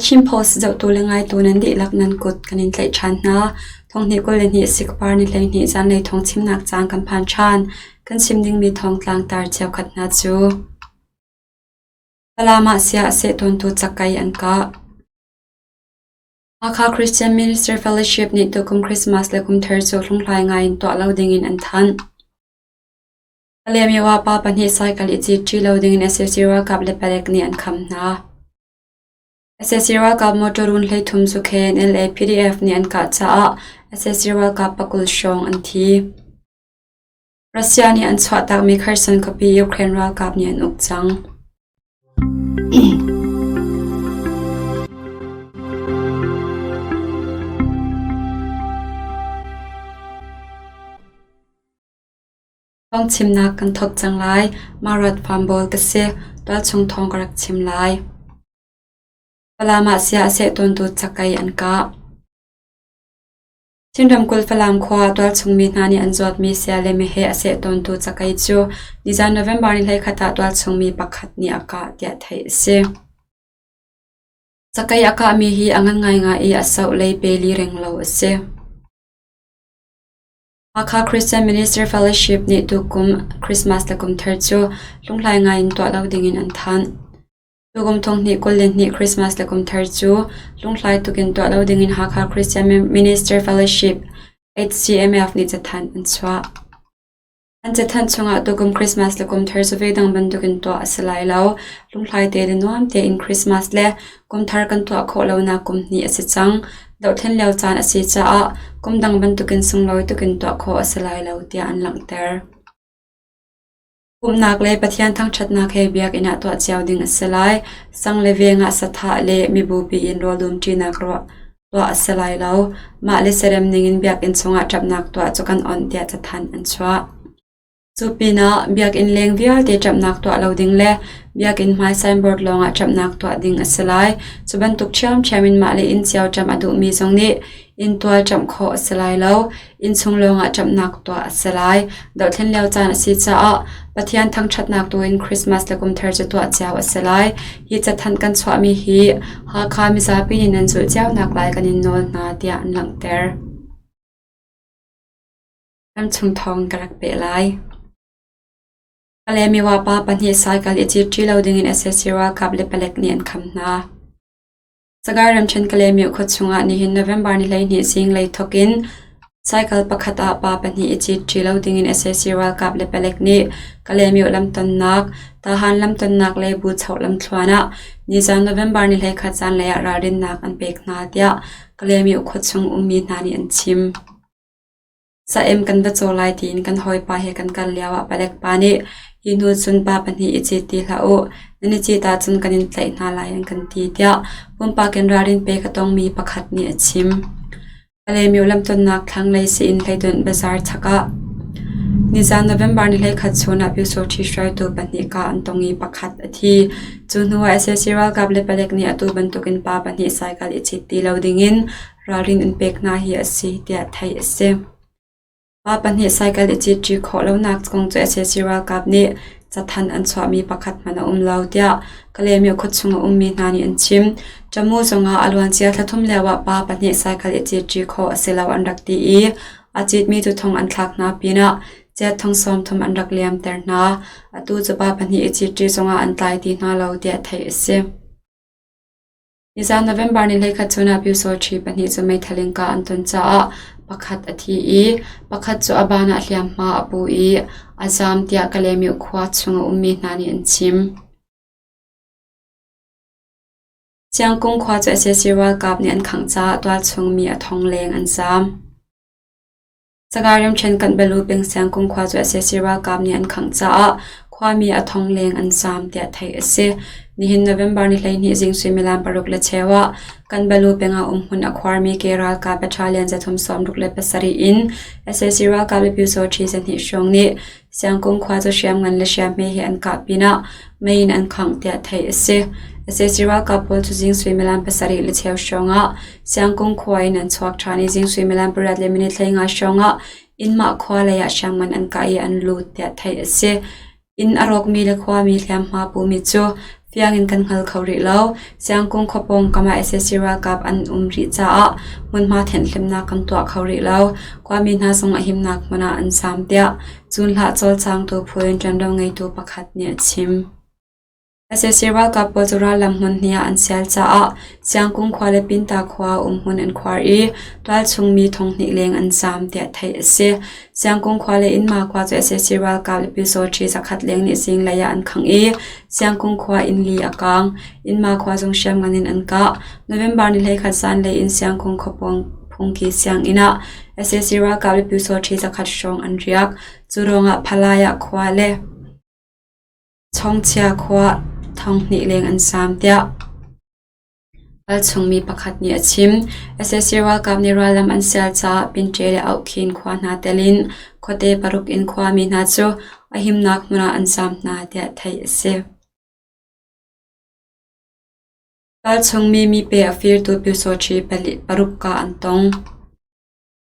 thim post zohtu le ngaitu nan dihlak nan kut kan in tlaih ṭhan hna. Thonghnih kul le hnih sikvar ni hleihnih zanlei thong chimnak caan kan phan ṭhan. Kan chim dingmi thong tlangtar cheukhat hna cu Falam ah sia a seh tawntu cakai an kah. Hakha Christian Ministry Fellowship nih tukum Christmas le kum thar cu hlunghlai ngai in tuah lo dingin an thanh. Palemyo ah pa pahnih cycle i cit ṭi lo dingin SAC ralkap le palek nih an kham hna. sac ralkap motor run hleithum cu khen LAPDF nih an kah caah sac ralkap pakul hrawng an thi. Russia nih an chuahtakmi Kherson khuapi Ukraine ralkap nih an uk cang. Phungchimnak kan thawk cang lai. Mah rat phuanbawl ka si. Tualchung thawng ka rak chim lai. Falam ah sia a seh tawntu cakei an kah. Chin ramkulh Falam khua tualchungmi hna nih an zawtmi sia le meheh a seh tawntu cakei cu nizan November ni hleikhat ah tualchungmi pakhat nih a kah tiah theih a si. Cakei a kahmi hi a ngan ngai nga i a soh lei pe li reng lo a si. Hakha Christian Ministry Fellowship nih tukum Christmas le kumthar cu lunghlai ngaiin tuah lo dingin an thanh. Tukum thonghnih kul le hnih Christmas le kumthar cu lunghlai tukin tuah lo dingin Hakha Christian Ministry Fellowship HCMF nih cathanh an chuah. An cathanh chungah tukum Christmas le kumthar cu veidang bantukin tuah a si lai lo. Lunghlai te le nuam tein Christmas le kumthar kan tuah khawh lonak kum hnih a si cang. Dohthlen lio caan a si caah kum dang bantukin sunglawi tukin tuah khawh a si lai lo tiah an langhter. Pumhnak le Pathian thangṭhatnak he biakinn ah tuah cio ding a si lai. Sang le veng ah sathah le mibupi in rawldumṭinak tuah a si lai lo. Mah le serem ningin biakinn chungah ṭapnak tuah cu kan on tiah cathanh an chuah. Cupinah Biakinn leng vialte ṭamhnak tuah lo ding le Biakinn hmai signboard lawngah ṭamhnak tuah ding a si lai. Cu bantuk ṭhiamṭhiam in mahle inn cio ṭamh a duhmi zong nih inntual ṭamh khawh a si lai lo. Innchung lawngah ṭamhnak tuah a si lai. Dohthlen lio caan a si caah Pathian thangṭhatnak tuin Christmas le kumthar cu tuah cio a si lai. Hi cathanh kan chuahmi hi Hakha mizapi nih nan zulh cionak lai kan in nawl hna tiah an langhter. Kan chung thawng ka rak peh lai. Pale miwa pa pahnih cycle i cit ṭi lo dingin Asesira kap le palek nih an kham hna. Sagaing ramṭhen Kalemiu khua chungah nihin November ni hleihnih zinglei thawkin cycle pakhat ah pa pahnih i cit ṭi lo dingin Asesira kap le palek nih Kalemiu lamtonnak, Tahan lamtonnak le Buchoh lamthluan ah nizan November ni hleikhat zanlei ah ralrinnak an pek hna, tiah Kalemiu khua chung ummi hna nih an chim. Saem kan va caw lai tiin kan hawipa he kan kal lioah palek pa nih hi hnu cun pa pahnih i cit ti hlah u, nan i cit ahcun kan in tlaih hna lai an kan ti tiah pumpak in ralrin pe ka tongmi pakhat nih a chim. Palemyo lamtonnak thlanglei Sain hleidawnh bazaar chak ah nizaan November ni hleikhat chun ah Pyusawhṭhi hruaitu pahnih kaa an tong i pakhat a thi. Cu hnuah SSC ralkap le palek nih atu bantukin pa pahnih cycle i cit ti lo dingin ralrin an pek hna hi a si tiah theih a si. Pa pahnih cycle i citṭi khawh lonak kong cu sac ralkap nih cathanh an chuahmi pakhat hmanh a um lo tiah Kalemi khuachung a ummi hna nih an chim. Ṭamu zungah a luancia thla thum lioah pa pahnih cycle i citṭi khawh a si lo an rak ti i a citmi tuthung an thlak hna pinah chiatthong sawmthum an rak liamter hna. Atu cu pa pahnih i citṭi zungah an tlai ti hna lo tiah theih a si. Nizan November ni hleikhat chun ah Pyusawṭhi pahnih cu meithal in kah an ton caah pakhat a thi i pakhat cu a ban ah hliamhma a pu i a zaam tiah Kalaymyo khua chung a ummi hna nih an chim. Ciangkung khua cu sac ralkap nih an khangh caah tualchung mi a thong leng an zaam. Sagaing ramṭhen Kanbalu pengsiang kumkhua cu sac ralkap nih an khangh caah khuami a thongleng an zaam tiah theih a si. Nihin November ni hleihnih zing suimilam paruk le cheu ah Kanbalu pengah umhmun a khuarmi ke ralkap battalion zathum sawmruk le pasarih in sac ralkap le Pyo Saw ṭhi zahnih hrawng nih Siangkung khua cu hriamngan le hriamhme he an kah pinah mei in an khangh tiah theih a si. Sac ralkap pawl cu zing suimilam pasarih le cheu hrawngah Siangkung khua in an chuak ṭhan i zing suimilam pariat le minit hleinga hrawngah Inmah khua leiah hriamngan an kah i an lut tiah theih a si. Inn a rawkmi le khuami hliamhma pumi cu Fiangin kan hngal kho rih lo. Siangkung khua pawng kamah sac ralkap an um rih caah hmunhma thenhhlimnak kan tuah kho rih lo. Khuami hna zong a himnak hmun ah an zaam, tiah Cunhlah cawlcangtu phu in ṭuanvo ngeitu pakhat nih a chim. sac ralkap pawl cu rallam hmun hnih ah an sial caah Siangkung khua le Pinta khua umhmun an khuar i tualchung mi thong hnih leng an zaam, tiah theih a si. Siangkung khua le Inma khua cu sac ralkap le pisaw-ṭhi zakhat leng nih zinglei ah an khangh i Siangkung khua in li a kaang. Inma khua zung hriamngan in an kah. November ni hleikhat zanlei in Siangkung khuapawng phungki sianginn ah sac ralkap le pisaw-ṭhi zakhat hrawng an riak. Cu ruangah Phalaya khua le Chawngchia khua thonghnih leng an sam tiah Ral chungmi pakhat nih a chim. sac ralkap nih rallam an sial caah Pinte le Auhkhin khua hna telh in khuate paruk in khuami hna cu a himnak hmun ah an zaam hna tiah theih a si. Ral chungmi mipe a firtu Pyo Saw Hti paruk ka an tong.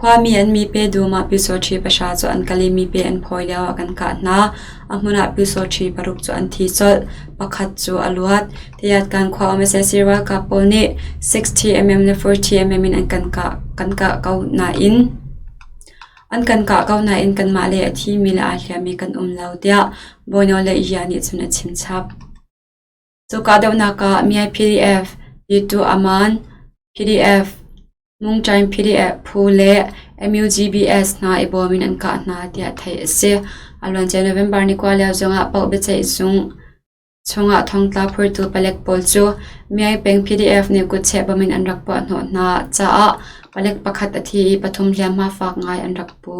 Khuami an mipe dum ah pyusawṭhi pahra cu an kal i mipe an phawi lioah kan kah hna. A hmun ah pyusawṭhi paruk cu an thi colh. Pakhat cu a luat. Tayatkan khua UMSS ralkap pawl nih 60mm le 40mm in an kan kah, kan kah ko nain an kan kah ko nain kanmah le a thimi le aa hliammi kan um lo, tiah Bono le Yia nih cun a chim chap. Cu kahdohnak ah Myanmar PDF, YouTube Aman PDF, Mungṭaing PDF phu le MUGBS hna i bawm in an kah hna tiah theih a si. A luancia November ni kua lio zongah paoh biaceih chungah thongtla phurtu palek pawl cu Myanmar peng PDF nih kutcheh bom in an rak puah hnawh hna caah palek pakhat a thi i pathum hliamhma fak ngai an rak pu.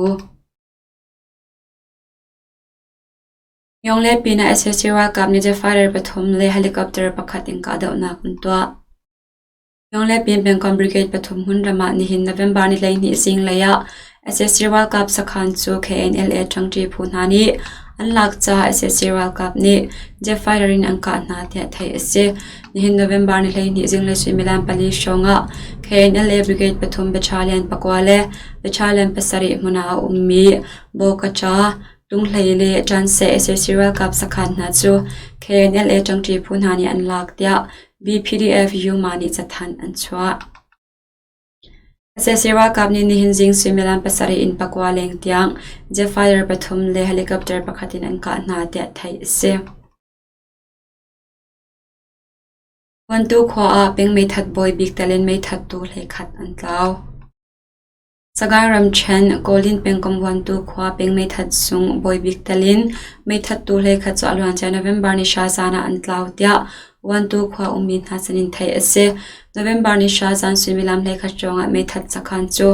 Yong le pinah sac ralkap nih Jefarer pathum le helicopter pakhat in kahdohnak an tuah. Yong le pin pengkomh brigade pathum hun ram ah nihin November ni hleihnih zinglei ah sac ralkap sakhan cu KNLA ṭangṭi phu hna nih an lak caah sac ralkap nih Jefarer in an kah hna tiah theih a si. Nihin November ni hleihnih zinglei suimilam pali hrawng ah KNLA brigade pathum battalion pakua le battalion pasarih hmun ah a ummi Bo Kaṭa, Lunghlei le ṭanseh sac ralkap sakhan hna cu KNLA ṭangṭi phu hna nih an lak, tiah BPDF Yuma nih cathanh an chuah. sac ralkap nih nihin zing suimilam pasarih in pakua leng tiang jet-fighter pathum le helicopter pakhat in an kah hna, tiah theih a si. Vuantu khua ah peng meithat bawi bik talen meithattu hlei khat an tlau. Sagaing ramṭhen Kawlin pengkomh vuantu khua peng meithat sung Bawi Bik telh in meithattu hleikhat cu a luancia November ni hra zan ah an tlau, tiah vuantu khua ummi hna sin in theih a si. November ni hra zan suimilam hleikhat hrawng ah meithat sakhan cu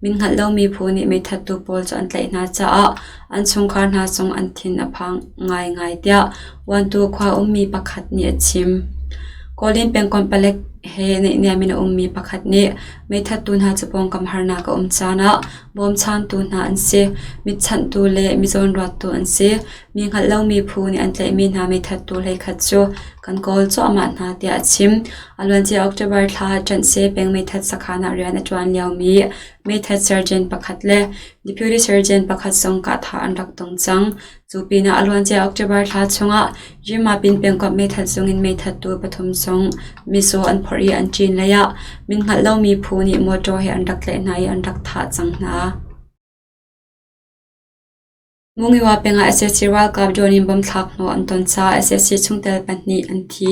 min hngalh lomi phu nih meithattu pawl cu an tlaih hna caah an chungkhar hna zong an thin a phang ngaingai, tiah vuantu khua ummi pakhat nih a chim. Kawlin pengkomh palek he naihniam in a ummi pakhat nih Meithattu hna cu pawngkam harnak a um caan ah bawmchantu hna an si, mitchanhtu le mizawnruattu an si. Mi hngalh lomi phu nih an tlaihmi hna meithattu hleikhat cu kan kawl cuahmah hna tiah a chim. A luancia October thla ṭanh Seh peng meithat sakhan ah rian a ṭuan liomi meithat surgeon pakhat le deputy surgeon pakhat zong kahthah an rak tong cang. Cu pinah a luancia October thla chungah Yumapin pengkomh meithat sungin meithattu pathum sung misaw an phawrh i an ṭin leiah min hngalh lomi phu nih mawṭaw he an rak tlaih hna i an rak thah cang hna. Mungyiwa pengah SAC ralkap drone in bomb thlak hnawh an ton caah SAC chungtel pahnih an thi.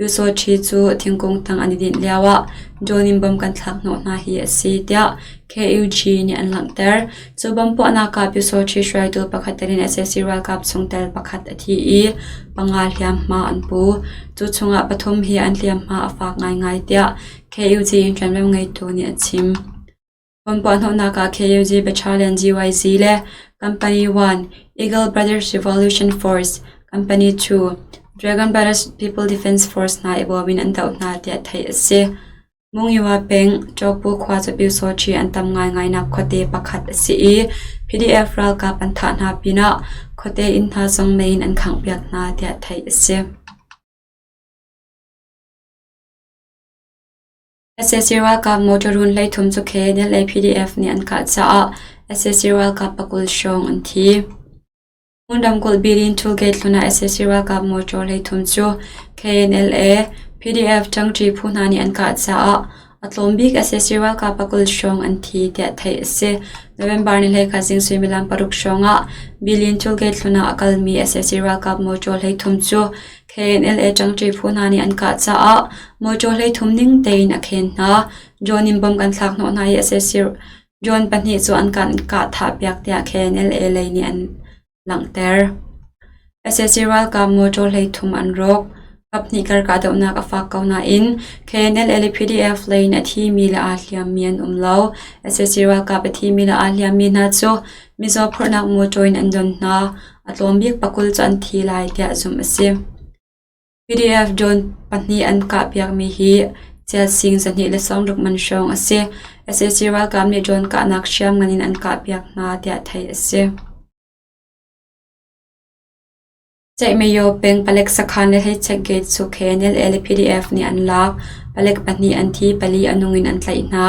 Usochi cu thingkung tang an i dinh lioah John in bom kan thlak hnawh hna hi a si tiah KUG nih an langhter. Cu bom puahnak ah Usochi hruaitu pakhat tel in sac ralkap chungtel pakhat a thi i panga hliamhma an pu. Cu chungah pathum hi an hliamhma a fak ngaingai tiah KUG in ṭuanvo ngeitu nih a chim. Kan puahhnawhnak ah KUZ Battalion GYC le Company 1 Eagle Brothers Revolution Force, Company 2 Dragon Brothers People Defense Force hna i bawm in an doh hna tiah theih a si. Mungyiwa peng Chokpu khua cu Pyusawṭhi an tam ngaingainak khuate pakhat a si i PDF ralkap an thah hna pinah khuate inn hna zong mei in an khanghpiak hna tiah theih a si. sac ralkap motor run hleithum cu khi Delhi PDF nih an kah caah sac ralkap pakul hrawng an thi. Hmun ramkulh Birin Tollgate hlun ah sac ralkap motor hleithum cu KNLA, PDF ṭangṭi phu hna nih an kah caah a tlawm bik sac ralkap pakul hrawng an thi tiah theih a si. November ni hleikhat zing suimilam paruk hrawng ah Birin Tollgate hlun ah a kalmi sac ralkap motor hleithum cu KNLA ṭangṭi phu hna nih an kah caah mawṭaw hleithum ning tein a khen hna. John in bom kan thlak hnawh hna i a siasirh. John pahnih cu an kan kahthahpiak tiah KNLA lei nih an langhter. SAC ralkap mawṭaw hleithum an rawk. Kap hnih kar kahdohnak a fak ko nain KNLA le PDF lei in a thimi le aa hliammi an um lo. SAC ralkap a thimi le aa hliammi hna cu Mizaw phurhnak motor in an don hna, a tlawm bik pa kul cu an thi lai tiah zumh a si. PDF drone pahnih an kahpiakmi hi Ciasing zahnih le sawmruk man hrawng a si. sac ralkap nih drone kahnak hriam ngan in an kahpiak hna tiah theih a si. Ceihmayo peng palek sakhan le hei-check gate sukhe NLA le PDF nih an lak. Palek pahnih an thi, pali a nung in an tlaih hna.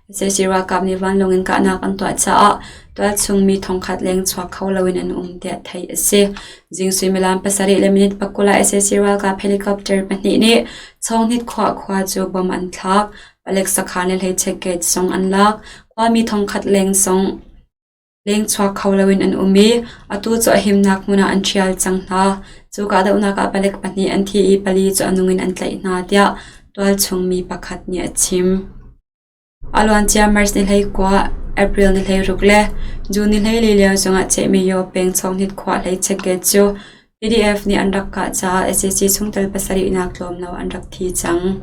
Zeizei ralkap nih vanlawng in kahnak an tuah caah tualchungmi thongkhat leng chuak kho loin an um tiah theih a si. Zing suimilam pasarih le minute pakul ah SAC ralkap helicopter pahnih nih Chongnit khua khua cu bomb an thlak. Palek sakhan le hleichek gate zong an lak. Khuami thongkhat leng zong Lengchuak kho loin an um i atu cu a himnak hmun ah an ṭhial cang hna. Cu kahdohnak ah palek pahnih an thi i pali cu a nung in an tlaih hna, tiah tualchungmi pakhat nih a chim. A luancia March ni hlei kua, April ni hlei ruk le June ni hlei li lio zongah chehmi Yaw peng Chonghit khua hlei checkgate cu PDF nih an rak kah caah SAC chungtel pasarihnak tlawmlo an rak thi cang.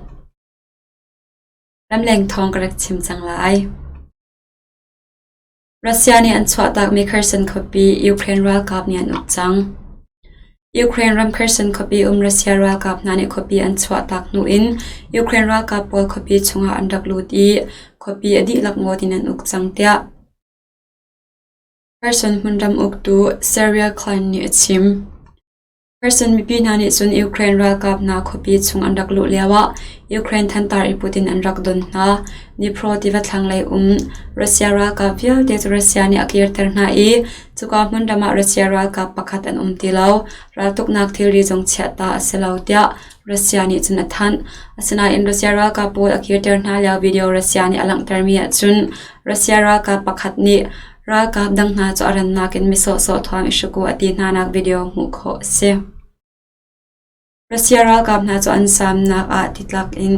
Ramleng thawng ka rak chim cang lai. Russia nih an chuahtakmi Kherson khuapi Ukraine ralkap nih an uk cang. Ukraine ram Kherson khuapi um Russia ralkap hna nih khuapi an chuahtak hnu in Ukraine ralkap pawl khuapi chungah an rak lut i khuapi a dihlak ngawt in an uk cang tiah Kherson hmunram uktu Sergei Klein nih a chim. Kherson mipi hna nih cun Ukraine ralkap hna khuapi chung an rak luh lioah Ukraine thantar i put in an rak don hna. Dnipro tiva thlanglei um Russia ralkap vialte cu Russia nih a kirter hna i cuka hmun ram ah Russia ralkap pakhat an um ti lo. Raltuknak thilri zong chiah ta a si lo tiah Russia nih cun a thanh. Asinain Russia ralkap pawl a kirter hna lio video Russia nih a langhtermi ahcun Russia ralkap pakhat nih Ralkap dang hna cu a rannak in misawhsawh thuam i hruku a ti hnanak video hmuh khawh a si. Russia ralkap hna cu an samnak ah titlak in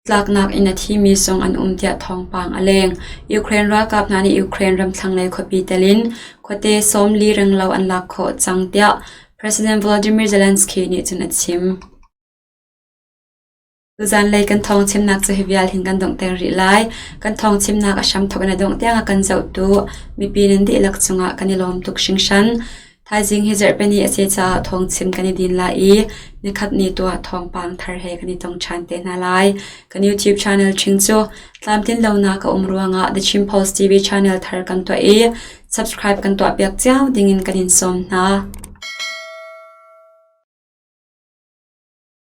tlaknak in a thimi zong an um tiah thawngpang a leng. Ukraine ralkap hna nih Ukraine ram thlanglei khuapi telin khuate sawm li ringlo an lak khawh cang tiah President Volodymyr Zelensky nih cun a chim. Zanlei kan thawng chimnak cu hi vial hin kan donghter rih lai. Kan thawng chimnak a hramthawk in a dongh tiangah kan zoh tuah. Mipi nan dihlak cungah kan i lawm tuk hringhran. Thaizing hi zarhpini a si caah thawng chim kan i din lai i nikhat ni tuah thawngpang thar he kan i tong ṭhan te hna lai. Kan YouTube channel ṭhing cu tlamtlin lonak a um ruangah The Chin Post TV channel thar kan tuah i subscribe kan tuahpiak cio dingin kan in sawm hna.